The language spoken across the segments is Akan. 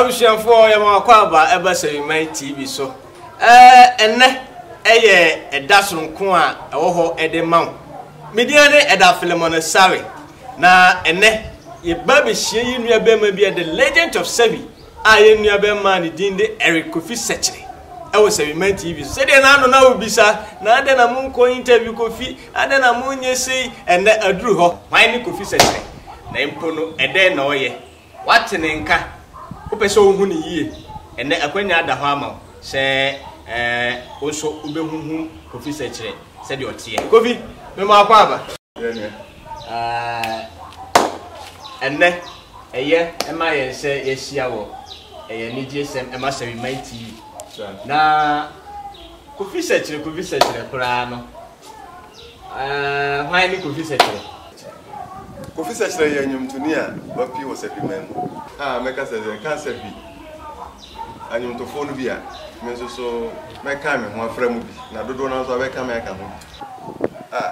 abusuafoɔ yɛma wakɔ aba ɛba Sawiman TV so ɛnɛ ɛyɛ ɛda soronko a ɛwɔ hɔ ɛde ma wo medina ne ɛda Philemon Sare na ɛnɛ yɛba bɛhyia yi nua bɛma bi the legend of Sawi a yɛ nua bɛma ne din de Eric Kofi Sɛkyere ɛwɔ sɛwiman tv so sɛdeɛ n'ano na wobisa na adɛn na monkɔ interview kofi adɛn na monyɛ sei ɛnɛ aduru hɔ hwan ne kofi sɛkyerɛ na mpo no ɛdɛn na ɔyɛ wate ne nka wopɛ sɛ wohu ne yie ɛnɛ akwanya ada hɔ ama wo sɛ ɛɛ wo nso wobɛhuhu kofi sɛkyerɛ sɛdeɛ ɔteɛ kofi mema akɔ aba ɛnɛ Ɛyɛ ma yɛn sɛ yɛahyia wɔ Ɛyɛ Anigyesɛm Mmasawimma Ti yi, na Kofi Sɛkyerɛ, Kofi Sɛkyerɛ koraa no, hwan ne Kofi Sɛkyerɛ? Kofi Sɛkyerɛ yɛ nnwontoni a wapue wɔ Sabiman mu. A, mɛka sɛ sɛ ɛka Sabi anwontofoɔ no bi a, me nso so mɛka me ho afra mu bi, na dodoɔ no ara nso abɛka me aka ho bi. A,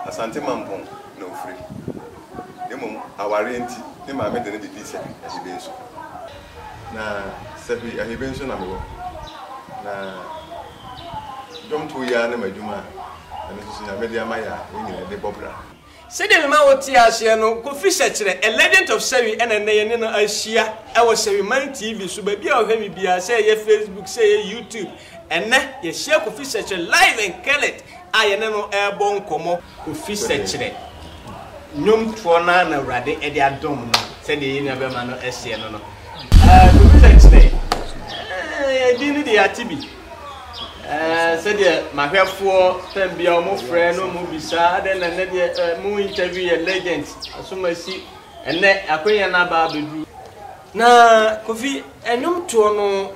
Asante Mampong na ɔfiri. na mmom awareɛ nti ne maame de no bɛdii Sɛhwi Ahibe nso. Na Sɛhwi Ahibe nso na mewɔ. Na dwomtoɔ yi ara ne m'adwuma a ɛno nso so Nyame de ama yɛ a yɛn nyinaa de bɔ bra. Sɛdeɛ mema wotee aseɛ no, Kofi Sɛkyerɛ, A Legend of Sɛhwi ɛna nnɛ yɛne no ahyia wɔ Sɛhwiman TV so, baabi a ɔhwɛ me biara, sɛ ɛyɛ Facebook, sɛ ɛyɛ YouTube, Ɛnnɛ, yɛahyia Kofi Sɛkyerɛ live and Kenneth a yɛne no rebɔ nkɔmmɔ. Kofi Sɛkyerɛ, nnwomtoɔ no ara na Awurade de adom no sɛdeɛ yɛn nuabɛma no seɛ no no. Kofi Sɛkyerɛ, ɛdin no deɛ yɛate bi. Sɛdeɛ mahwɛfoɔ tam biara wɔfrɛ no, wɔbisa adɛn na ɛnnɛ deɛ mo interview yɛ legend, asomasi. Ɛnnɛ akwannya no aba abɛduru. Na Kofi nnwomtoɔ no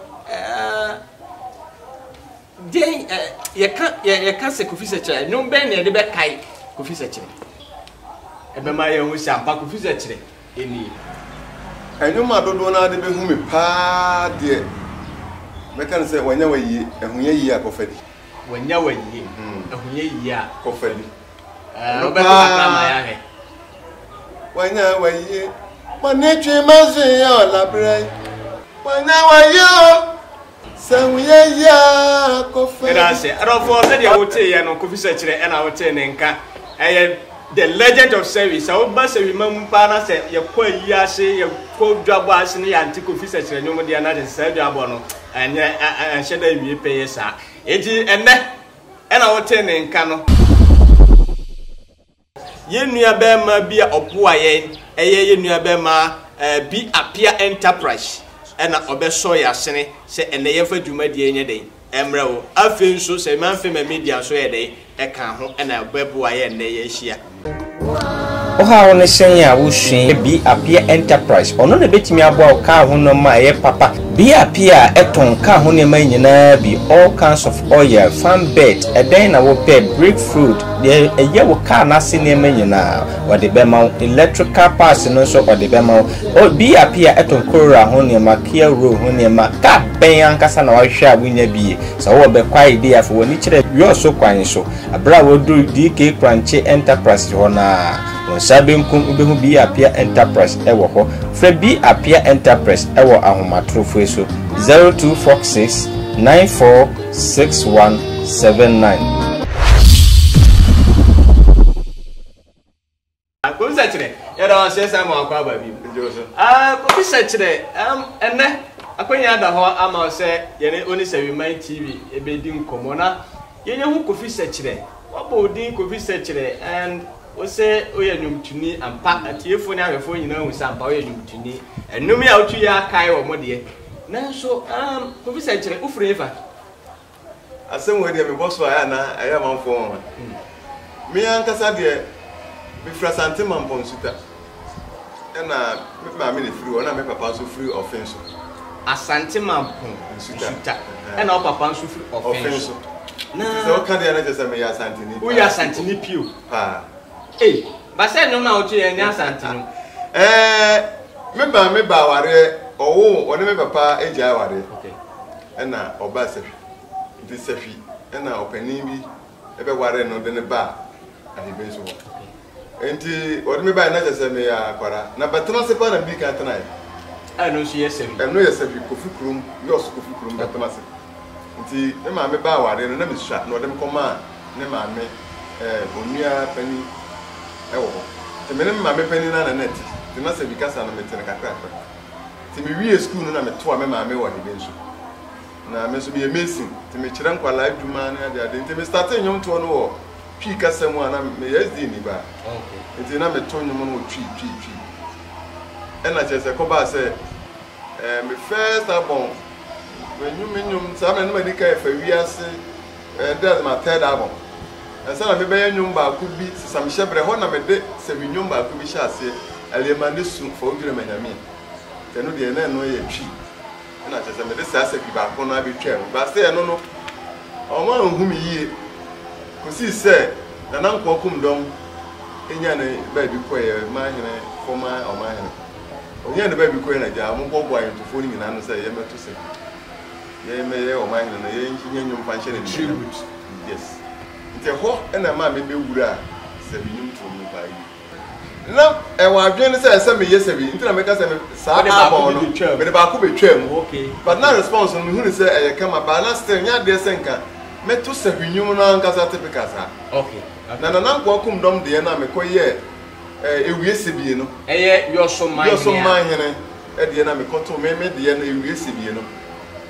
deɛn yɛka yɛka sɛ Kofi Sɛkyerɛ nnwom bɛn na yɛde bɛkae Kofi Sɛkyerɛ? Ɛbɛma yɛahu sɛ ampa Kofi Sɛkyerɛ ɛnie. Nnwom a dodoɔ no ara de bɛhu me paa deɛ mɛka no sɛ, Wanya W'ayie, Ahunyɛ Yie a Kɔfa Di. Wanya W'ayie, Ahunyɛ Yie a Kɔfa Di. Ɛno paa Wanya wayie Bɔne twe m'adwene yɛ ɔlabrɛ yi Wanya wayie o Sɛ ho yɛ yie a kɔ fɛ Ɛda ase adɔfoɔ sɛdeɛ woteeɛ no Kofi Sɛkyerɛ ɛna wotee ne nka Ɛyɛ the legend of Sɛwi Sɛ woba Sɛwi ma mu paa na sɛ yɛkɔ ayie ase Yɛkɔ dwabɔ ase ne yɛante Kofi Sɛkyerɛ nnwom deɛ na kyerɛ sɛ saa dwabɔ no Ɛnyɛ ɛnhyɛ da awie pɛyɛ saa Enti ɛnnɛ na wotee ne nka no. Yɛn nuabarima bi a ɔboa yɛn, ɛyɛ yɛn nuabarima Bi Apia Enterprise na ɔbɛsɔ yɛn asene sɛ ɛnnɛ yɛmfa dwumadie nyɛ dɛn mmrɛ wo. Afei nso sɛ Manfema Media nso yɛ dɛn ka ho na ɛbɛboa yɛn ɛnnɛ yɛahyia. Wo haw ne sɛn a wusua Bi Apia Enterprise, ɔno na ebetumi aboa wo kaa ho nneɛma a ɛyɛ papa. Bi Apia a ɛtɔn kaa ho nneɛma nyinaa bi, all kinds of oil, fan belt, ɛdɛn na wopɛ, brake fluid, deɛ ɛyɛ wo kaa no ase nneɛma nyinaa, ɔde bɛma wo. Electrical parts no nso ɔde bɛma wo. Oh, Bi Apia ɛtɔn Corolla ho nneɛma, Kia Roe ho nneɛma. Kaa bɛn ankasa na wahwehwɛ a wunya bi? Sɛ wowɔ bɛ kwae de a, fa w'ani kyerɛ Wiɔso kwan so. Bere a wɔduu DK Kranche Enterprises hɔ no ara, wo nsa benkum wubehu Bi Apia Enterprise wɔ hɔ. Frɛ Bi Apia Enterprise wɔ ahomatorofo yi so, 0246 946179. Kɔmisa kyerɛ yɛda wɔ aseɛ saa ma wakɔ aba bi kɔmisa kyerɛ ɛnɛ akɔnya ada hɔ ama sɛ yɛne ɔne Sawiman TV ɛbɛdi nkɔmmɔ na yɛnya ho Kofi Sɛkyerɛ wabɔ wo din Kofi Sɛkyerɛ and wo sɛ woyɛ nnwomtoni ampa atiefoɔ ne ahwɛfoɔ nyinaa hu sɛ ampa woyɛ nnwomtoni ɛnwom yi a wotwi yɛ akae wɔ mo deɛ nanso Kofi Sɛkyerɛ wofiri hefa Asɛm wei deɛ mebɔ so a ɛyɛ a na ɛyɛ amanfoɔ nwanwa. Me ankasa deɛ mefiri Asante Mampɔn Nsuta ɛna me maame na ɛfiri hɔ na me papa nso firi Ɔfen so. Asante Mampɔn Nsuta ɛna wo papa nso firi Ɔfen so. Na sɛ woka deɛ na kyerɛ sɛ meyɛ Asanteni paa. Woyɛ Asanteni pio? Paa. Ei, basɛ nnwom no a woto yi ɛnyɛ Asante nnwom? Ɛɛ, me maame baa awareɛ, ɔwoo, ɔne me papa gyae awareɛ. Okay. na ɔbaa sahwi. Enti sahwi na ɔpanin bi bɛwaree no de no baa Ahwebinsu hɔ. Enti wɔde me baeɛ na kyerɛ sɛ meyɛ akwadaa. Na Bɛtena ase paa na medi kan tenaeɛ. A ɛno nso yɛ sahwi? Ɛno yɛ sahwi, Kofi kurom, Jos Kofi kurom Bɛtena ase. Enti me maame baa awareɛ no na mesua na wɔde me kɔmaa ne maame onua panin wɔ hɔ. Enti me ne me maame panin no ara na na ɛte. Enti na sahwi kasa no mete no kakrakra. Nti me wiee sukuu no na me toa me maame wɔ Hebe nso. Na me nso me yɛ mason, nti me kyerɛ nkwalaa adwuma ne ade ade. Nti me startee nnwom toɔ no wɔ Twi kasa mu a na me yɛ SD ni ba. Nti na me to nnwom no wɔ Twi, Twi, Twi. Ɛna kyerɛ sɛ kɔbaa sɛ ɛɛ me first album, me nnwom, me nnwom, saa mmerɛ no na madi kan ɛfa wiase. Ɛyɛ dɛ dze ma third album. Ansa na mebɛyɛ ndwom baako bi sesamehyɛberɛ, hɔ na mede sɛwi ndwom baako bi hyɛ aseɛ, Aliema ne su fa wo dwene ma Nyame. Nka ɛno deɛ na ɛno yɛ Twi, ɛna kyerɛ sɛ mede saa sɛwi baako no ara bɛtwaa mu. But still ɛno no, wɔanhu me yie kɔsii sɛ Nana Nkoa Kum Dɔm nyaa ne baabi kɔeɛ, Manhene, former Ɔmanhene. Ɔnyaa ne baabi kɔeɛ na gyaa wɔboaboaa ayɛntofoɔ no nyinaa ano sɛ yɛmmɛto sɛwi. Yɛn mɛyɛ ɔman hene no yɛn nyɛ nnwom mfa nhyɛ no animuonyam yes nti ɛhɔ na ɛmaa me bɛ wuraa sɛbi nnwom turom no paa yie na ɛwɔ adwene no sɛ ɛsɛ meyɛ sɛbi nti na mɛka sɛ me saa album no mede baako bɛ twaa mu but na response no mehunu sɛ ɛyɛ kama baa na still nyɛ adeɛ sɛ nka mɛto sɛbi nnwom no ankasa typical saa na Nana Nkoa Kumdɔm deɛ no a mekɔ yɛɛ ɛɛ ewie sɛbie no ɛyɛ yɔso man hene. deɛ na me kɔto me me deɛ no ewie sɛbie no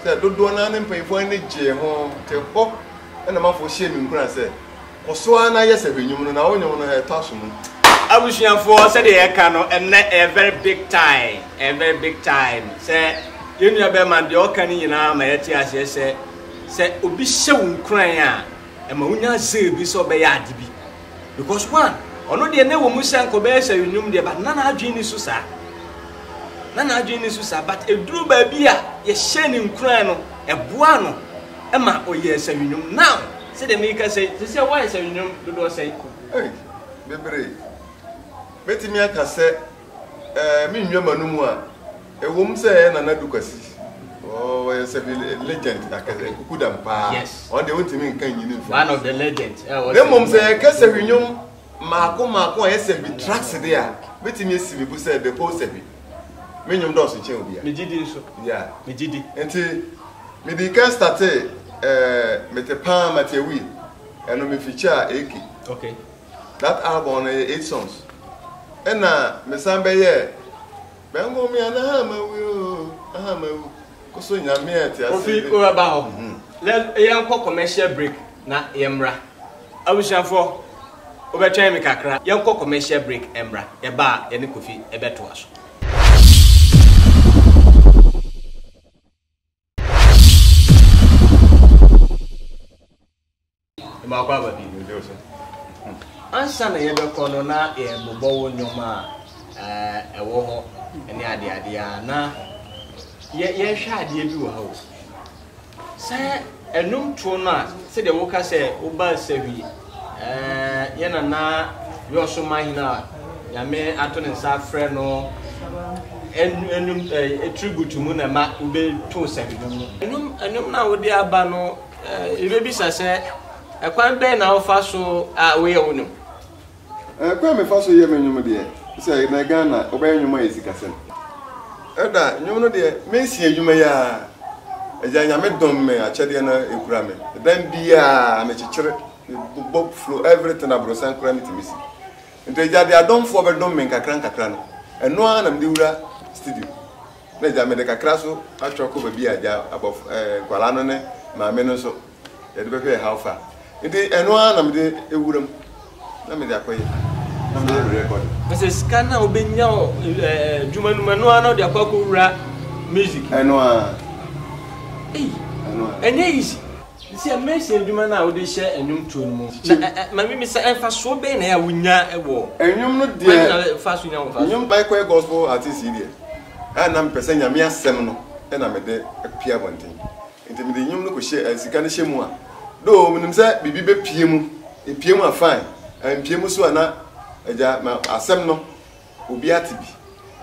sɛ dodoɔ naa ne mpanyinfoɔ ani gyee ho te hɔ ɛna manfoɔ hyɛɛ me nkuran sɛ kɔso ara na yɛ sɛ hwɛ nwom no na wo nwom no ɛtɔ aso mu. Abusuafoɔ sɛdeɛ yɛka no ɛnɛ ɛyɛ very big time ɛyɛ very big time sɛ yɛn nua bɛrima deɛ ɔka no nyinaa ma yɛte aseɛ sɛ sɛ obi hyɛ wo nkuran a ɛma wonya zeal bi sɛ ɔbɛyɛ ade bi. because one ɔno deɛ na ɛwɔ mu sɛ nka ɔbɛyɛ sɛ nnwom deɛ but na n'adwene ni so saa na n'adwene ni so saa but eduru baabi a yɛhyɛ ne nkuran no ɛboa no ɛma ɔyɛ sɛ nnwom now sɛdeɛ meka sɛ te sɛ wɔayɛ sɛ nnwom dodoɔ sɛ. Hey, bebree. Mɛtumi aka sɛ. Ɛɛ me nnwa ma no mu a ɛwɔ mu sɛ ɛyɛ Nana Adu Kwasi ɔyɛ sɛ bi legend akɛsɛ nkukudam paa ɔn deɛ wontumi nka nyini mfiri one of the legends na mmom sɛ yɛka sɛ bi nnwom maako maako a ɛyɛ sɛ bi tracks de a mɛtumi asi me bu sɛ the whole sɛ bi me nnwom dɔɔso kyɛn obi a megyidi nso yeah megyidi nti mede ka starte ɛɛ mete paa mateawi ɛno me feature a eke okay That album no yɛ eight songs. Ɛna mesan bɛyɛɛ Bɛngo me a na ha mawu o, na ha mawu. Koso Nyame a ɛte ase. Kofi wobɛba hɔ. Na yɛnkɔ commercial break na yɛmmra. Abusuafoɔ, wobɛtwɛn me kakra. Yɛnkɔ commercial break mmra. Yɛba a, yɛne Kofi bɛtoa so. Mmaako aba bi. Ansa na yɛbɛkɔ no na yɛrebobɔ wo nnoɔma a ɛwɔ hɔ ne adeade a na yɛhwɛ adeɛ bi wɔ ha o. Sɛ ɛnum toɔ no a sɛdeɛ woka sɛ woba Sahwi yɛn nana Yɔso Mahene a Nyame ato ne nsa afrɛ no ɛnum tribute mu na ɛma wobɛtoo Sahwi no mu. Ɛnum na wode aba no. Yɛbɛbisa sɛ, Ɛkwan bɛn na wofa so a woyɛ wo nnwom? Kwan a mefa so yɛ me nnwom deɛ, sɛ ɛnnɛ Ghana wobɛyɛ nnwom a ɛyɛ sikasɛm. Ɛda a, nnwom no deɛ, mɛsi adwuma yi ara. Agya Nyame dom me, akyɛdeɛ no ɛkura me. Dan biara mekyekyere, mebobɔ, flow, everything, abrɔsan koraa mɛtumi asi. Nti Agya deɛ adomfoɔ bɛdom me nkakra nkakra no, ɛno ara na mede wura studio. Na agya, mede kakra so atwa kɔ baabi a agya, abɔf ɛɛ nkwadaa no ne maame no nso, yɛde bɛhwɛ how far. Nti ɛno ara na mede awura mu na mede akɔyɛ na meyɛ me recording. Kyerɛ sɛ sika no a wobɛnya wɔ ɛɛ adwuma no mu, ɛno ara na wode akɔ akɔwura music mu? Ɛno ara. Ei, ɛnyɛ easy. Mesia, mmɛhyɛ adwuma no a wode hyɛ nnwomtoɔ no mu. Na mamimisa, mfasoɔ bɛn na ɛyɛ a wonya wɔ. Nnwom no deɛ. Kwan bɛn na ɛfa so nya ho mfasoɔ? Nnwom I kɔyɛ gospel artist yi deɛ, a na mepɛ sɛ Nyame asɛm no na mede pue abɔnten. Nti mede nnwom no kɔhyɛ, sika no hyɛ mu a, though menim sɛ biribi bɛpue mu, ɛpue mu a fine, ɛmpue mu nso a na Agya ma asɛm no. obi ate bi.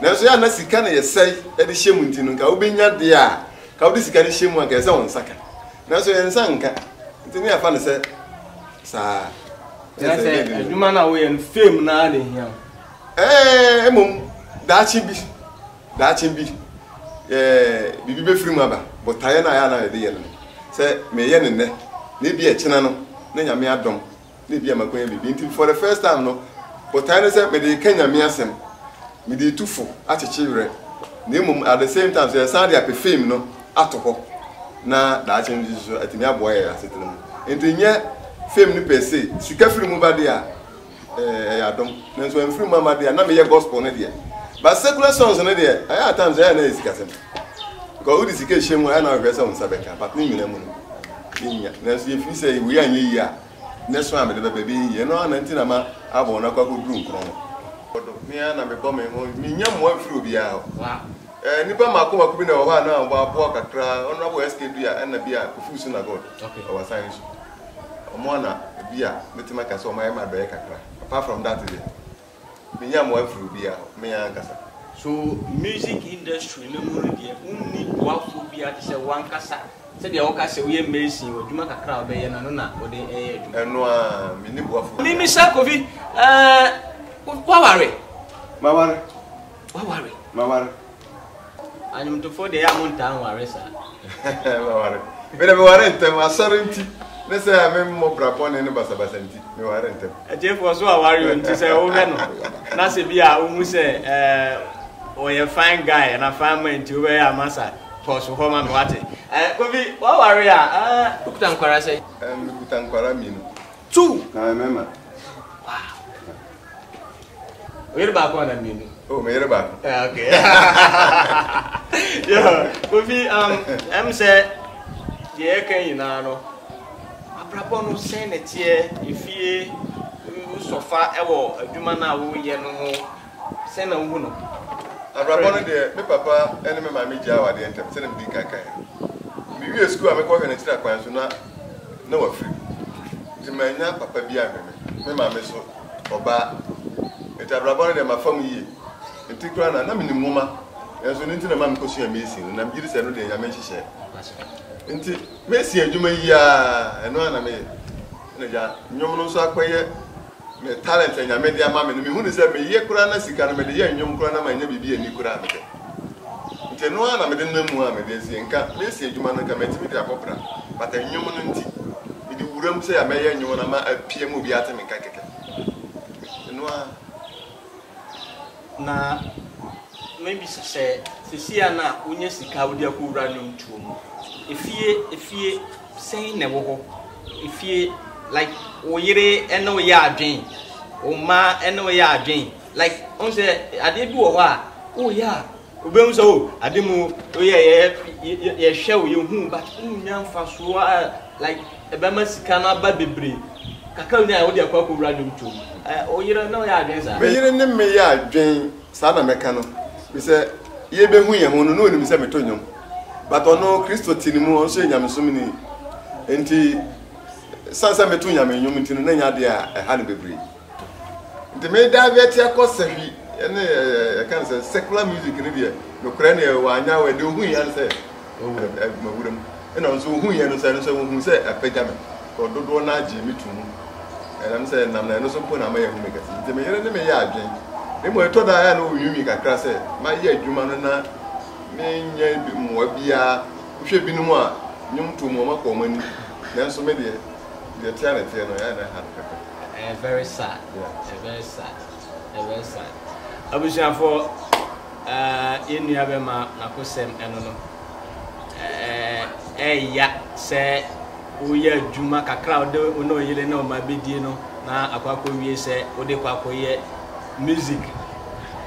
Nanso yɛ a na sika na yɛsɛe de hyɛ mu nti no, nka wobɛnya deɛ a, ka wode sika no hyɛ mu a, nka ɛsɛ wo nsa ka. Nanso yɛn nsa nka, nti ne yɛafa no sɛ saa. Kyerɛ sɛ adwuma no a woyɛ no, fame no ara na ɛhia wo. Ɛɛ, mmom daakye bi, daakye bi, ɛɛ, biribi bɛfiri mu aba. Botaeɛ no a yɛ a na yɛde yɛ no, sɛ meyɛ no nnɛ, na ebi ɛkyena no, na Nyame adom. na ebi a makɔnya biribi nti for the first time no botae ne sɛ mede reka nyame asɛm mede retu fo akyekye werɛ na mmom at the same time sɛ yɛsan de apɛ fame no ato hɔ na daakye no nso so atumi aboa yɛ asetena mu nti nyɛ fame no pɛ se sika firi mu ba deɛ a ɛyɛ adom nanso ɛmfiri mu ama deɛ a na meyɛ gospel no deɛ but secular songs no deɛ ɛyɛ atam sɛ ɛyɛ na yɛ sikasɛm Because wode sika hyɛ mu a, ɛna wohwɛ sɛ wo nsa bɛka, but ne nyinaa mu no, yɛnnya. Nanso yɛfiri sɛ wei anyɛ yie a, ne so a mede bɛba ɛbɛyɛ yie. Ɛno ara na nti na ma abɔ no akɔ akɔduru nkron no. Ɔdo, me ara na mebɔ me ho, mennya mmoa mfiri obiara hɔ. Ɛɛ, nnipa mmaako mmaako bi na ɛwɔ hɔ a na wɔaboa kakra, Honourable SK Duah ɛna bi a Kofi Usu na God, Ɔwasan nso. Wɔn ara na bi a mɛtumi aka sɛ wɔayɛ m'adɔeɛ kakra. Apart from that deɛ, Menya mboa fri obia hɔ, me ankasa. So music industry no mu no deɛ wonni boafoɔ biara te sɛ woankasa? Sɛdeɛ woka sɛ woyɛ mason, w'adwuma kakra a wobɛyɛ no ano na wode yɛ adwuma. Ɛno ara, menni boafoɔ biara. Mimisa Kofi, eh, woaware? Maware. Waware. Maware. Anwomtofoɔ deɛ yɛ a montaa nware saa. Maware. Mede meware ntɛm asɔre nti ne sɛ a memmɔ bra bɔne ne basabasa nti meware ntɛm. Atiefoɔ so aware o nti sɛ wohwɛ no na sɛ bi a wohu sɛ ɛɛ ɔyɛ fine guy ana fine man nti wobɛyɛ a masa pɔs hɔ ma me wate. Ɛɛ Kofi waware a ɛɛ wokuta nkwara sɛ? Ɛɛ mekuta nkwara mmienu. Two! Na me mɛma. Wow! Oyere baako ana mmienu? Oh, me yere baako. Yeah, okay. Yo, Kofi, um, ɛm sɛ deɛ yɛka nyinaa no, abrabɔ no sɛn na ɛteɛ, efie, wosɔfa ɛwɔ adwuma no a woyɛ no ho, Sɛn na wuhu no? Abrabɔ no deɛ, me papa ne me maame gyaa awadeɛ ntɛm, sɛdeɛ medi kan kaeɛ no. Mewiee sukuu a mekɔhwɛ no akyiri akwan so na na wafiri, enti mannya papa biara anhwɛ me. Me maame nso, ɔbaa. Enti abrabɔ no deɛ, mafa mu yie. Me ti koraa na, na menim nwoma, nanso ɛno nti na ɛma mekɔsuaa Mason no. Na megye di sɛ ɛno deɛ, Nyame nhyehyɛɛ nti. Mason adwuma yi ara, ɛno ara na meyɛ. Ɛnna agya, nnwom no nso akɔyɛ. Me talent a Nyame de ama me no, mehunuu sɛ meye koraa na sika no mede yɛ nnwom koraa na mannya biribi anni koraa a mepɛ. Nti ɛno ara na mede nam mu a mede asie. Nka mesi adwuma no, nka matumi de abɔ bra, but nnwom no nti, mede wuram sɛ ya mɛyɛ nnwom no ama apie ama obiara ate me nka kɛkɛ. Ɛno ara. Na mabisa sɛ, seesei a na wonya sika a wode akɔwura nnwomtoɔ mu, efie efie Sɛn na ɛwɔ hɔ? Efie, like wo yere ne wo yɛ adwen, wo mma ne wo yɛ adwen, like ɔn sɛ adeɛ bi wɔ hɔ a woyɛ a wobɛhu sɛ o ade mu woyɛ yɛ yɛhwɛ wo yɛhu but wonya mfasoɔ a like ɛbɛma sika no aba bebree kakra wonya a wode akɔ akɔwura dwom tuom ɛ wo yere ne wo yɛ adwen saa. Me yere ne me yɛ adwen saa na mɛka no, efisɛ yɛbɛhu yɛn ho no na ɔnim sɛ meto nnwom. But ɔno Kristo te ne mu, ɔno nso yɛ nyamesom ni. Nti, san sɛ meto nyame nnwom nti no, na ɛnyɛ adeɛ a ɛha no bebree. Nti me divert akɔ sahwi ne ɛka no sɛ secular music no deɛ, nokorɛ no yɛ wanyaw ɛ, deɛ ohun yɛ no sɛ ɔwura ɛ, mawura mu. Ɛna ɔno nso ohun yɛ no sɛ, ɛno nso ohun sɛ apagya me, kɔ dodoɔ no ara gyee me to mu. Ɛnam sɛ nam na ɛno nso mpo na ama yɛahu me kɛse. Nti me yere ne me yɛ adwen. Mmom ɛtɔ da a ɛyɛ a na ɔnwiinwii kakra sɛ mayɛ adwuma no na Me nyɛ bi mmoa biara. Wo hwɛ binom a nnwom to mu a ɔmo akɔ ɔmo anim nanso me deɛ deɛ ɛteɛ a na ɛteɛ no ɛyɛ a na ɛha me pɛpɛ. Ɛyɛ very sad ɛyɛ very sad ɛyɛ very sad abusuafoɔ eh yɛn nua bɛma nakosɛm ɛno no eh ɛɛya sɛ wo yɛ adwuma kakra a wode wo ne wo yere ne wo mma bɛdie no na akɔ akɔ wie sɛ wode kɔ akɔ yɛ music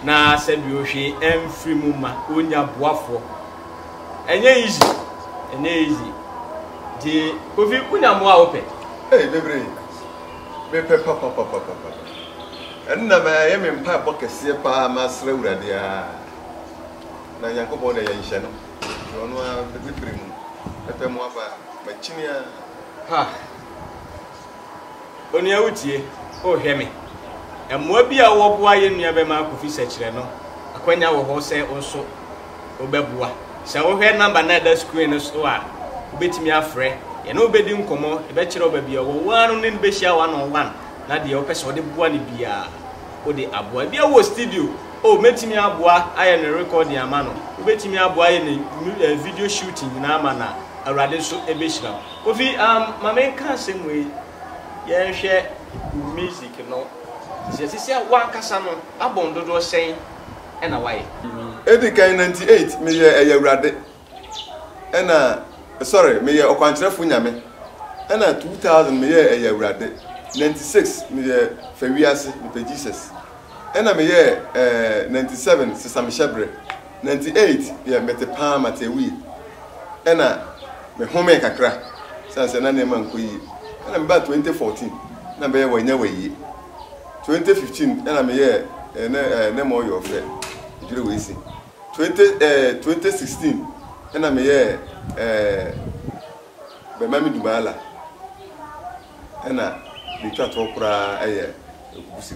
na sɛdeɛ hwee ɛmfiri mu ma ɔnya boafoɔ ɛnyɛ easy ɛnyɛ easy nti kofi wonya mmoa a wopɛ Hey, bebree mepɛ papapapapa ɛno na ma ɛyɛ me mpaebɔ kɛseɛ paa masrɛ awurade a na nyankopɔn na yɛnhyɛ no nti ɔno a bɛbɛfiri mu mepɛ mmoa paa makyini a ha Onua Wotie? Oh, hwɛ me! Mmoa bi a wɔboa yɛn nuabɛma Kofi Sɛkyerɛ no, akwanya wɔ hɔ sɛ wo nso wobɛboa. Sɛ wohwɛ number no a ɛda screen no so a, wobɛtumi afrɛ. Yɛne wo bɛdi nkɔmmɔ, yɛbɛkyerɛ wo baabi a ɔwɔ, wo ara no ne no bɛhyia one on one, na deɛ wopɛ sɛ wode boa no biara, wode aboa. Ebia wowɔ studio, oh, mɛtumi aboa ayɛ no recording ama no. Wobɛtumi aboa ayɛ no video shooting nyinaa ama no a, Awurade nso bɛhyira wo. Kofi amm ma me nka asɛm wei yɛn nhwɛ wo music no sisia sisia wo ankasa no abɔn dodoɔ sɛn ɛna wayɛ. Edi kan ninety eight me yɛ ɛyɛ awurade ɛna sorry me yɛ ɔkwankyerɛfo nyame ɛna two thousand me yɛ ɛyɛ awurade ninety six me yɛ fɛ wiase me pɛ Jesus ɛna me yɛ ɛɛ ninety seven sesamehyɛbere. Nanti eit deɛ mete paa mate awie ɛna me homee kakra sane sɛ na nneɛma nkɔ yie ɛna me baa twenty fourteen na me bɛyɛ wanya wayie twenty fifteen ɛna me yɛɛ ɛnɛ ɛɛ ne mɔ yɔɔ fɛ edwere wei si twenty ɛɛ twenty sixteen ɛna me yɛɛ ɛɛ bɛma me dubaala na deɛ ɛtwa toɔ koraa yɛ Ekubusi.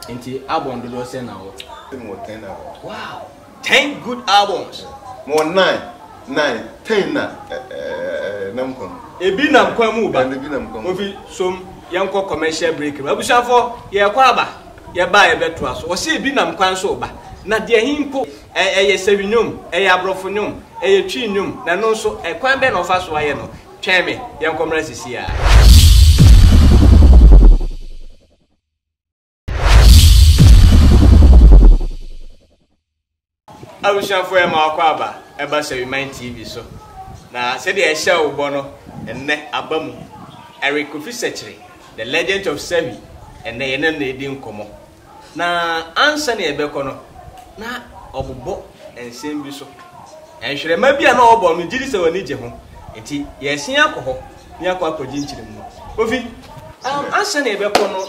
Nti album dodoɔ sɛn na wɔ? Mewɔ ten albums. Wow! Ten good albums! Mewɔ nine, nine, ten na ɛnam kwan mu. Ebi nam kwan mu ba. Ebi nam kwan mu. Kofi som yɛnkɔ commercial break no. Abusuafoɔ yɛrekɔ aba, yɛba a yɛbɛtoa so. Wɔse ebi nam kwan so reba. Na deɛ he mpo, ɛyɛ Sawi nnwom, ɛyɛ Aborɔfo nnwom, ɛyɛ Twi nnwom, na ɛno nso, kwan bɛn na ɔfa so ayɛ no? Twɛn me, yɛnkɔ mmra sisiaa. abusuafoɔ yɛ ma wakɔ aba ɛba Sɛwiman TV so na sɛdeɛ ɛhyɛ wo bɔ no ɛnnɛ aba mu Eric Kofi Sɛkyere the legend of Sɛwi ɛnnɛ yɛne no ɛdi nkɔmmɔ Na ansa na yɛbɛkɔ no, na ɔbobɔ nsɛm bi so. Nhwerɛma bi a na ɔbɔ no, megye di sɛ w'ani gye ho. Enti yɛresan akɔ hɔ na yɛakɔ akɔgye nkyerɛmu no. Kofi, um, ansa na yɛbɛkɔ no,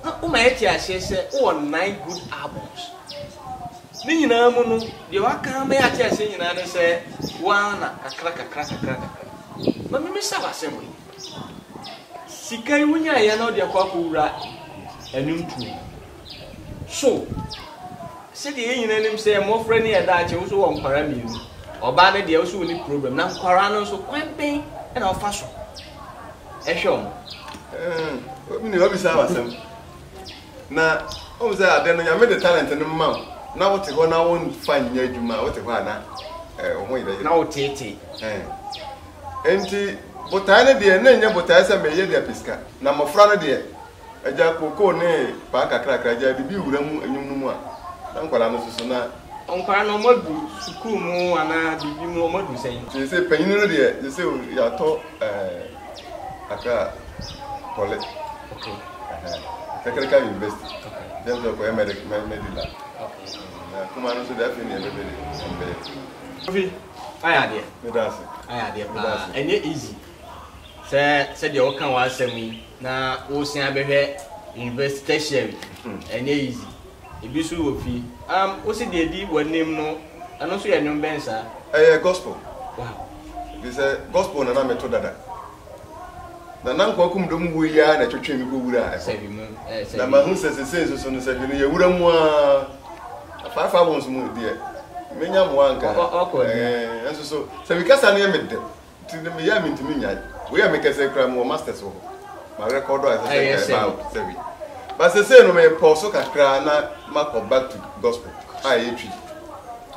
na woma yɛte aseɛ sɛ wowɔ nine good albums. Ne nyinaa mu no, deɛ waka ama yɛate aseɛ nyinaa ne sɛ wo ara na kakra kakra kakra kakra. Ma memmisa wo asɛm wei. Sika yi wonyaeɛ na wode akɔ akɔwura ɛno ntuo mu. So sɛdeɛ yɛn nyinaa nim sɛ mmɔfra ni ɛdaakye wo so wɔ nkwara mmienu. Ɔbaa no deɛ wo so ɔni problem na nkwara no nso kwan bɛn na ɔfa so ɛhwɛ ɔmo. Obi ne ɔbisa wasɛm na ɔmo sɛ ade no nyame de talent no ma wo na wote hɔ na wonfa nyɛ adwuma a wote hɔ a na wo ho yɛ na woteetee. Enti botae no deɛ, na ɛnyɛ botae sɛ mereyɛ de apɛ sika. Na mmɔfra no deɛ, agya kookoo ne paa kakrakra, agya adidi wura mu anwum no mu a, na nkwadaa no nso so, na. Nkwadaa no, wɔadu sukuu mu anaa biribi mu, wɔadu sɛn? Seesei panin no deɛ, seesei o, yɛatɔ Accra Poly. Okay. Ɛhɛn, Technical University. Okay. Nti ɛno nso ɛkɔyɛ Medi, Medi Lab. Okay. Na kumaa no nso deɛ, afei na yɛbɛhwɛ deɛ ɛbɛyɛ. Kofi, Ayɛ adeɛ. Meda ase. Ayɛ adeɛ paa. Meda ase. Ɛnyɛ easy sɛ sɛdeɛ woka w'asɛm yi na woresan abɛhwɛ university tertiary. Ɛnyɛ easy. Ebi nso wɔ fie. Um, wo se deɛ ɛdi w'anim no, ɛno nso yɛ nnwom bɛn saa? Ɛyɛ gospel. Wow. Ɛfiri sɛ gospel na na meto dada. Na na nkoakum dɔm wuo yi ara na ɛtwetwee me kɔwuraa ɛhɔ. Na mahu sɛ sesei nso so no sɛ bi no yɛ wura mu ara. Na five hours mu deɛ menya mmoa anka ɛɛ nso so sɛ me kasa no yɛ me dɛ nti no meyɛ a mentumi nyae. Wei a mekasa yi koraa mewɔ masters wɔ hɔ. Ma record a ɛsɛ sɛ nka ɛba out sɛ wei. Ba sesei no mepɔw so kakra na makɔ back to gospel a ɛyɛ twi.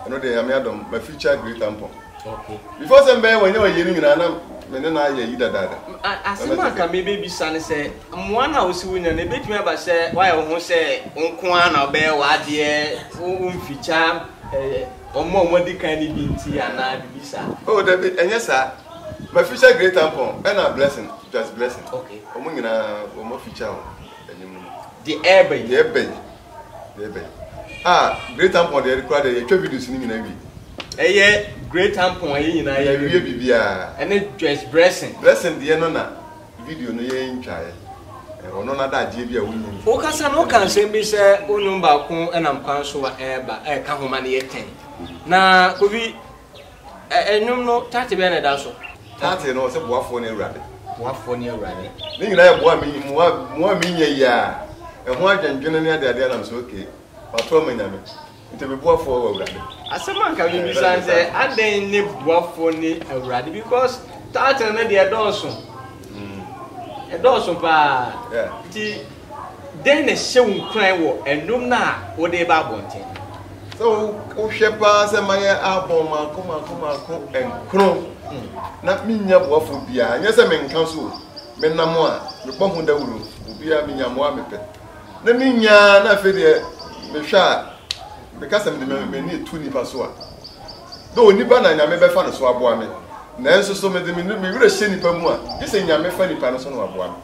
Ɛno deɛ Nyame adom ma feature Great Ampɔn. Okay. Before sɛ mbɛyɛ wɔnyɛ wɔyɛ no nyinaa na me ne no ayɛ ayi dadaada. Asɛm a nka mebɛbisa ne sɛ mmoa no a wosi wonya no ɛbɛtumi aba sɛ woayɛ wo ho sɛ wo nko ara na wobɛyɛ w'adeɛ womfikya ɔmo a wɔadi kan no bi nti anaa biribi saa? Oh dabi ɛnyɛ saa mafikya Great Tampon ɛna Blessing Just Blessing ɔmo nyinaa wɔn mafikya wɔn anim no. Deɛ ɛɛba yi. Deɛ ɛɛba yi. Ɛyɛ bɛn? Ah, Great Ampon deɛ ɛde kura deɛ yɛtwa videos no nyinaa wie. Ɛyɛ Great Ampon ɛyɛ nyinaa yɛ wie biribiara. Ɛne Joyce Blessing. Blessing deɛ no na video no yɛn ntwaeɛ. Ɔno na adagyeɛ bi a wonni mfo. Wo kasa no wo ka nsɛm bi sɛ wo nnwom baako ɛnam kwan so a ɛreba ɛreka ho ma no yɛ tɛn. Na Kofi. Ɛ nnwom no taate bɛn na ɛda so? Taate no ɔsɛ Boafoɔ ne Awurade. Boafoɔ ne Awurade. Ne nyinaa yɛ boa me mmoa mmoa me nya yi a, ɛho adwendwene ne adeade a nam sɛ okay, mato ama Nyame, nti me boafoɔ wɔ Awurade. Asɛm a nka mebisa ne sɛ, adɛn ne boafoɔ ne Awurade because taate no deɛ ɛdɔɔso, ɛdɔɔso paa, nti. Dɛn na ɛhyɛ wo nkuran wɔ nnwom no a wode reba abɔnten no ho? Sɛ wohwɛ paa sɛ mayɛ album mako mako mako nkron na minnya boafo biara, nyɛ sɛ menka so o, menam a mebɔ ho dawuru, obiara minya mmoa a mepɛ na minnya a na afei deɛ mehwɛ a meka sɛ mede m'ani etu nnipa so a dɛ onipa na Nyame bɛfa no so aboa me nanso so mede me werɛ hyɛ nnipa mu a gye sɛ Nyame fa nnipa no so na waboa me.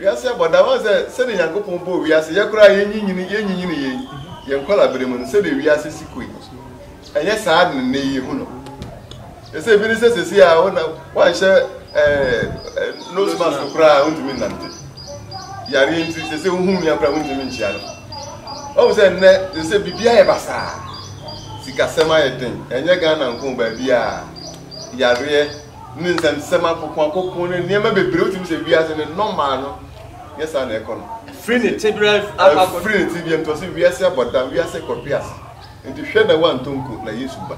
Wiase abɔ da. Woahu sɛ sɛdeɛ Nyankopɔn bɔɔ wiase, yɛ koraa yɛnyinyini, yɛnyinyini yei, yɛn nkɔlaaberɛ mu no, sɛdeɛ wiase si kɔ yi, ɛnyɛ saa na nnɛ yi yɛhu no. Yɛ sɛ ebi ne sɛ sɛsi a wona woanhyɛ ɛɛ nose mask koraa wontumi nnante. Yareɛ nti, sɛ sɛ wohu nua koraa wontumi nkyia no. Woahu sɛ nnɛ, sɛ sɛ biribi ayɛ basaa, sikasɛm ayɛ den, ɛnyɛ Ghana nko baabiara, yareɛ, ne nsɛmnsɛm akokoakoko ne nneɛma bebree, wotumi sɛ wiase no nɔmaa no, nyɛ saa na ɛkɔ no. Firi ne tebea akɔ akɔ. Firi ne tebea mu, tɔse wiase abɔdam, wiase kɔhwe ase. Nti hwɛ na woantɔ nko na Yesu ba.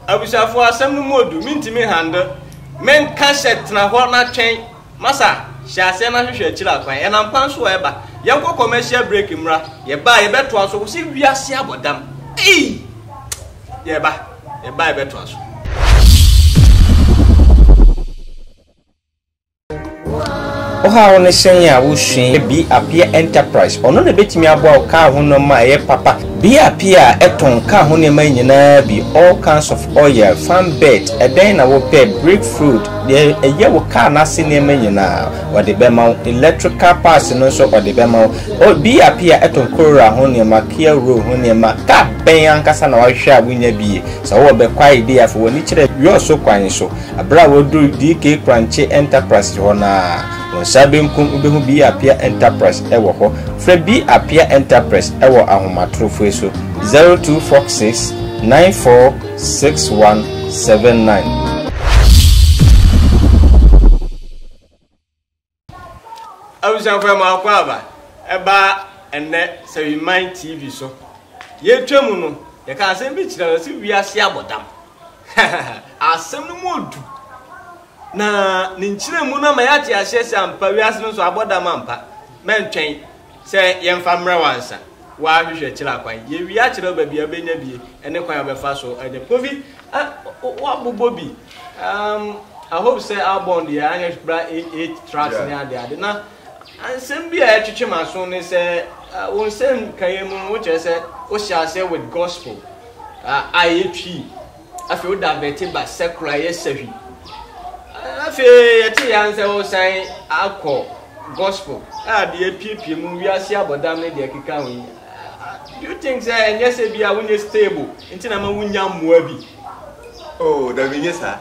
Abusuafo asɛm no mu odu, mentumi handle, menka hyɛ tena hɔ na twɛn. Masa, hyɛ aseɛ na hwehwɛ akyire akwan, yɛnam kwan so a ɛba, yɛnkɔ commercial break mmra, yɛba a yɛbɛtoa so, wose wiase abɔ dam, ei! Yɛba, yɛba a yɛbɛtoa so. Woha wo ne sɛn a wosua bi appear enterprise ɔno na ebetumi aboa wo kaa ho nneɛma a ɛyɛ papa bi appear a ɛtɔn kaa ho nneɛma nyinaa bi all kinds of oil fan bed ɛdɛn na wopɛ break fruit Deɛ ɛyɛ wo car no ase nneɛma nyinaa wɔde bɛma wo, electrical parts no nso wɔde bɛma wo. Oh, BRP a ɛtɔn Corolla ho nneɛma, Kia Roll ho nneɛma, car bɛn ankasa na woahwehwɛ a wonnya bi? Sɛ wowɔ Bekwai deɛ afei w'ani kyerɛ Yosso kwan so. Berɛ a woaduru DK Kranche Enterprises hɔ no ara, wo nsa benkum wobɛhu B. Appiah Enterprise wɔ hɔ. Frɛ B. Appiah Enterprise wɔ ahomatorofo yi so, 0246 94. Six one seven nine. abusuafo ɛmu akɔ aba ɛba ɛnɛ sɛwiman tv so yɛtwa mu no yɛka asɛm bi kyerɛ no sɛ wiase abɔdam asɛm no mu odu na ne nkyerɛ mu no ama yɛate aseɛ sɛ ampa wiase no so abɔdam ampa mɛntwɛn Sɛ yɛmfa mmrɛ wansa w'ahwehwɛ kyerɛ akwan yɛwie akyerɛ wo baabi a wobɛnya bi ɛne kwan a wobɛfa so anya bi. Kofi ah wabobɔ bi um I hope sɛ album deɛ anyɛ bra eight eight tracks ne ade ade na nsɛm bi a ɛtwetwe m'aso ne sɛ uh, wo nsɛm kaeɛ mu no wokyerɛ sɛ wohyɛ aseɛ with gospel uh, a ɛyɛ twi Afei wo davɛte ba sɛkoro a ɛyɛ sahwi. Afei yɛte yɛn sɛ wosan akɔ gospel a de apiepie mu wiase abɔdam ne deɛ ɛkeka ho yi. Do you think sɛ ɛnyɛ sɛ bi a wonyɛ stable nti na ma wonya mmoa bi? Oh, dabi nyɛ saa.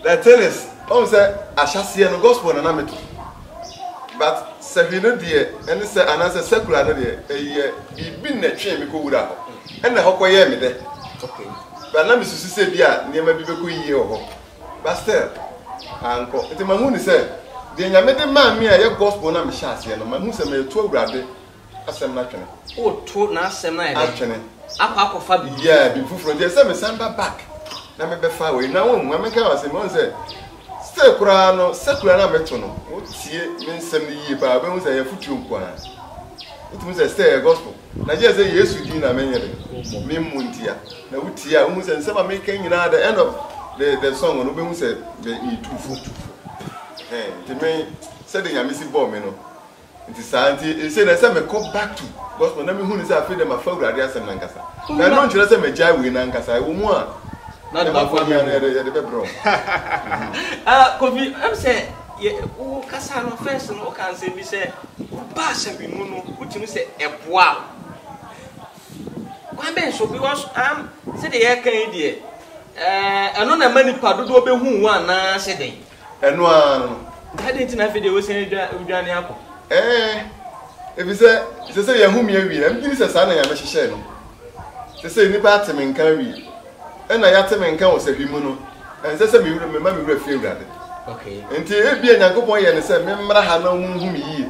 The thing is woahu sɛ ahyɛaseɛ no gospel na na meto but sɛhwi no deɛ ɛne sɛ anaasɛ secular no deɛ ɛyɛ biribi na ɛtwee me kɔwura hɔ ɛna hɔ kɔyɛɛ me dɛ but na mesusu sɛ bi a nneɛma bi bɛkɔ yie wɔ hɔ but still ankɔ nti mahu ne sɛ deɛ nyame de maa me a ɛyɛ gospel na mehyɛ aseɛ no mahu sɛ meto awurade asɛm no atwene. Woto n'asɛm no ayɛ dɛn? Atwene. Akɔ akɔfa biribi. Yeah, biribi foforɔ. Nti ɛsɛ mesan ba back na mebɛfa wei. Na wɔn mu, mɛka wɔn asɛm, wɔn sɛ still koraa no, secular na meto no, wotie me nsɛm no yie paa, wobɛhu sɛ ɛyɛ afotuo nko ara. Wotumi sɛ still ɛyɛ gospel. Na gye sɛ Yesu din na menyɛ dɛ, memmu ntia. Na wotie a, wohu sɛ nsɛm a meka nyinaa, the end of the, the song no, wobɛhu sɛ metu fo. Nti me, sɛdeɛ Nyame si bɔɔ me no, Nti saa nti nsei no ɛsɛ mekɔ back to gospel na mehu no sɛ afei deɛ mafa awurade asɛm no ankasa. Na ɛno nkyerɛ sɛ magyae wei no ankasa, ɛwɔ mu a na de bɛboa me a na yɛde bɛbrɛ wo. Ah Kofi, ɛm sɛ yɛ wo kasa no first no wokaa nsɛm bi sɛ woba asawi mu no wotumi sɛ ɛboa wo. Kwan bɛn so because am sɛdeɛ yɛreka yi deɛ ɛɛ ɛno na ɛma nipa dodoɔ bɛhu wo anaa sɛ dɛn? Ɛno ara no. Nti adɛn nti na afei deɛ wosan redwane akɔ? Ɛɛ, ɛfiri sɛ ɛsɛ sɛ yɛahome awie. Ɛmgye ni sɛ saa na Nyame hyehyɛɛ no. Ɛsɛ sɛ nnipa ate me nka awie. Ɛna yɛate me nka wɔ sahwi mu no, ɛnsɛ sɛ mema me werɛ fi Awurade. Nti ebia Nyankopɔn yɛɛ no sɛ memmra ha na wɔnhu me yie.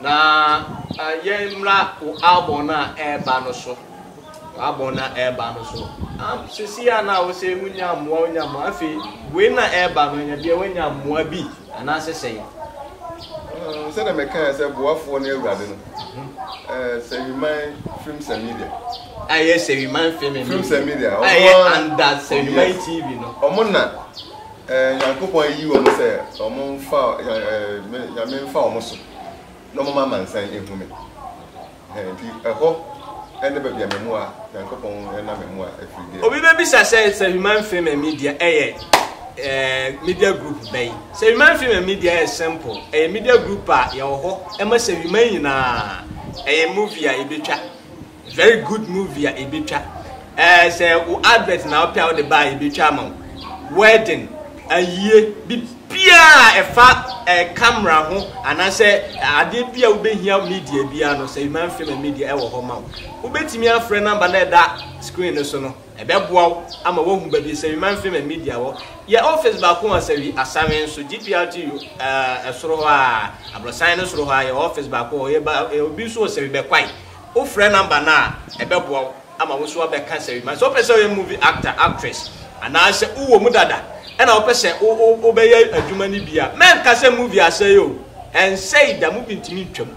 Na yɛmmra wo album no a ɛreba no so. Wo album no a ɛreba no so. Am sisi a na wo sɛ wonya mmoa wonya mmoa afei wei na ɛreba no ɛnyɛ deɛ woanya mmoa bi anaasɛ sɛn? Mm, sɛdeɛ mɛkae sɛ boafoɔ no awurade no ɛɛ sɛwiman films and media a ɛyɛ sɛwiman film and films and media media a ɛyɛ ɔmo a under sɛwiman Yes. tv no ɔmo na Nyankopɔn ayi wɔn sɛ wɔn mfa Me Nyame mfa wɔn so, na wɔn ma amansan ehu Me. Ɛhɛn, nti ɛhɔ ne baabi a M'amuwa, Nyankopɔn nam M'amuwa firi deɛ. Obi bɛbisa sɛ, sɛ Human Female Media ɛyɛ eh, media group bɛn? Sɛ Human Female Media ɛyɛ simple, ɛyɛ media group a yɛwɔ hɔ ma sɛ Human nyinaa, ɛyɛ movie a yɛbɛtwa. Very good movie a ebetwa. Ɛɛ sɛ wo advert na wopɛ a wode ba a ebetwa ama wo. Wedding, ayie, biribiara a ɛfa ɛɛ camera ho anaasɛ adeɛ bi a wobɛhia media biara no sɛ Human Film and Media ɛwɔ hɔ ma wo. Wobɛtumi afrɛ number na ɛda screen no so no. Ɛbɛboa wo ama woahu baabi sɛ Human Film and Media wɔ. Yɛ office baako wɔ Asawi, Asame nso, GPRTU ɛɛ ɛsoro hɔ a, abrɔsan no soro hɔ a yɛwɔ office baako wɔ hɔ. Yɛba obi nso wɔ Asawi, Bɛkwae. wofrɛ number no a ɛbɛboa wo ama wo nso wabɛka asɛm yi. Ma sɛ wopɛ sɛ woyɛ movie actor, actress anaasɛ wowɔ mu dada ɛna wopɛ sɛ wo wo wobɛyɛ adwuma no bi a, mɛnka sɛ movie asɛe o, ɛnsɛe da, movie ntumi ntwa mu.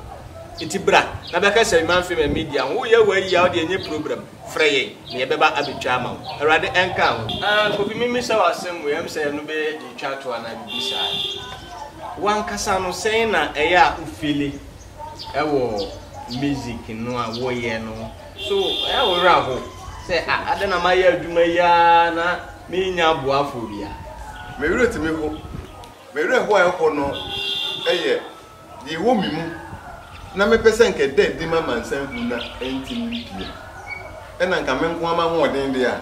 Nti bra na bɛka asɛm yi ma mfe ma media ho. Woyɛ w'ayi a wodeɛ ɛnyɛ program, frɛ yɛn na yɛbɛba abɛtwa ama wo. Awurade ɛnka wo ho. Ah Kofi memmisa wo asɛm wei, ɛm sɛ ɛno bɛyɛ deɛ ɛtwa toɔ anaa biribi saa. Wo ankasa no sɛn na ɛyɛ a wo feeli? ɛwɔ music no a woyɛ no ho so ɛyɛ wo werɛ aho sɛ a adɛn na mayɛ adwuma yi ara na mennya aboafoɔ bi a me werɛ tumi ho me werɛ ho a ɛho no ɛyɛ deɛ ɛwɔ me mu na mepɛ sɛ nka ɛda adi ma amansan hu na ɛntumi mpie ɛna nka me nko ama hoɔden deɛ a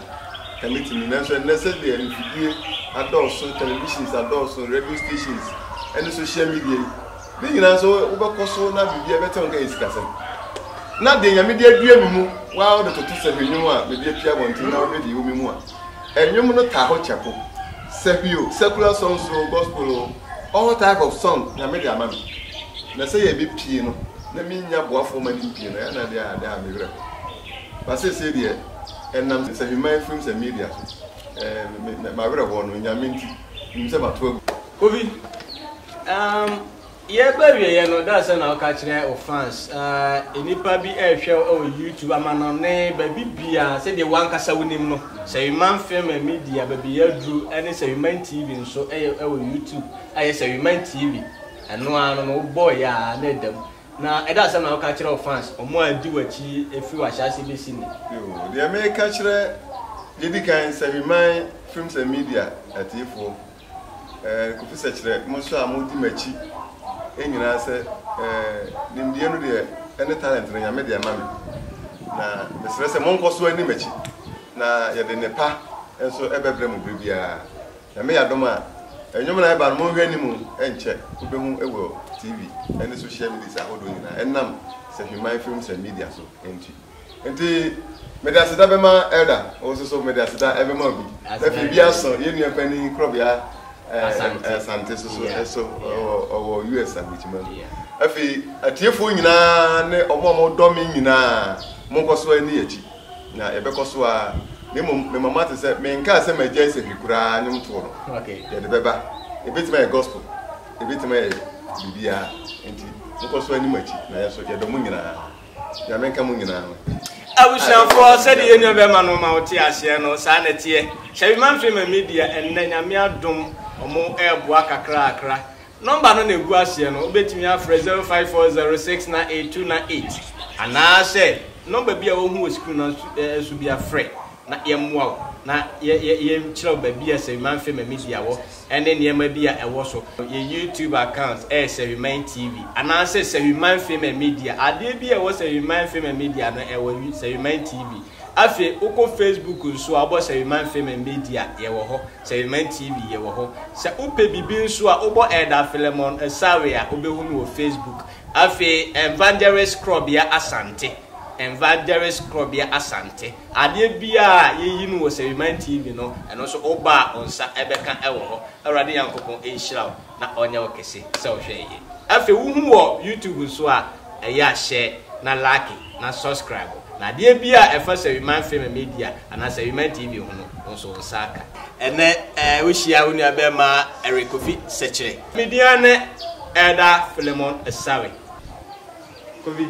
ka mɛtumi nanso ɛnnɛ sɛdeɛ mfidie adɔɔso televisions adɔɔso radio stations ɛne social media yi Ne nyinaa nso wobɛkɔ so na biribiara bɛtɛ wo nka yɛ sikasɛm. Na deɛ Nyame de adua me mu waa wode toto sahwi nnwom a mede apia abɔnten na wode de wo me mu a, nnwom no taa hɔ kyɛko. Sahwi o, secular songs o, gospel o, all type of song Nyame de ama me. Na sɛ yɛbɛpie no na mennya boafoɔ ma no mpie no ɛyɛ a na ɛdeɛ adeɛ a me werɛ ho. But seesei deɛ ɛnam Sahwiman Films and Media so, ɛɛ, me, me, m'awerɛhoɔ no, Nyame nti, menim sɛ mato agu. Kofi, um, yɛreba awieɛ no, da sɛ na woka kyerɛ wo fans, uh, nnipa bi ɛrehwɛ wo wɔ YouTube, amanɔne, baabi biara, sɛdeɛ wankasa wonim no, sɛ Wiman Film and Media, baabi yɛaduru, ɛne sɛ Wiman TV nso ɛyɛ ɛwɔ YouTube, ayɛ sɛ Wiman TV, ɛno ara no no wobɔɔ yɛ a na ɛda mu, na ɛda sɛ na woka kyerɛ wo fans, wɔn a di w'akyi ɛfiri w'ahyɛase bɛsi ne. Yoo, deɛ meka kyerɛ, deɛ ɛdi kan, sɛ Wiman Films and Media atiefoɔ, eh, Kofi sɛ kyerɛ mo nso a modi m'akyi nyinaa sɛ eh, nimdeɛ no deɛ ɛne talent no Nyame de ama me na mesrɛ sɛ monkɔ so ani m'akyi na yɛde nnepa nso ɛbɛbrɛ mo berɛ biara Nyame yɛ adom a nnwom no a ɛba no monhwɛ anim nkyɛ wobɛhu wɔ TV ɛne social medias ahodoɔ nyinaa ɛnam Sahwiman Films and Media so nti. Nti mede aseda bɛma Elder, wo nso so mede aseda bɛma obi. Na afei bi aso yɛn nua panyin Korɔbea Asante nso so ɛso ɔwɔ US Aburokyima mu. Afei atiefoɔ nyinaa ne wɔn a wɔdɔ me nyinaa, monkɔ so ani akyi na yɛbɛkɔ so ara. Na mmom mema moate sɛ menkaa sɛ magyae sahwi koraa nnwom toɔ no. Yɛde bɛba. Ɛbɛtumi ayɛ gospel, ɛbɛtumi ayɛ biribiara. Nti monkɔ so anim akyi na yɛn nso yɛdɔ mo nyinaa. Nyame nka mo nyinaa. Abusuafoɔ sɛdeɛ yɛn nua bɛrima no ma wote aseɛ no saa na ɛteɛ Hyɛbi Manfrema Media ɛnnɛ Nyame adom ɔmo ɛɛboa kakrakra Nɔmba no na egu aseɛ no wobɛtumi afrɛ 0540698298 anaasɛ nɔmba bi a wohu wɔ screen no so biara frɛ na yɛmmoa wo na yɛnkyerɛ wo baabi a Sahwiman Film and Media wɔ ne nneɛma bi a ɛwɔ so. Yɛn YouTube account yɛ Sahwiman TV anaasɛ Sahwiman Film and Media. Adeɛ bi a ɛwɔ Sahwiman Film and Media no, ɛwɔ Sahwiman TV. Afei wokɔ Facebook nso a, wobɔ Sahwiman Film and Media, yɛwɔ hɔ. Sahwiman TV, yɛwɔ hɔ. Sɛ wopɛ biribi nso a, wobɔ Elder Philemon Esawe a, wobɛhu no wɔ Facebook. Afei Evangelist Korɔbea Asante, Evangelist Korɔbea Asante. Adeɛ biara a yɛyi no wɔ Sariman TV no, ɛno nso woba a wo nsa bɛka wɔ hɔ. Awurade Nyankopɔn nhyira wo na ɔnyɛ wo kɛse sɛ wohwɛ yɛn. Afei wohu wɔ YouTube nso a, ɛyɛ a hyɛ na lake na subscribe na adeɛ biara a ɛfa Sariman Film Media anaa Sariman TV ho no, wo nso wo nsa aka. Ɛnnɛ wohyia wo nuabarimaa Eric Kofi Sekyere. Me din ara ne Elder Philemon Asare. Kofi.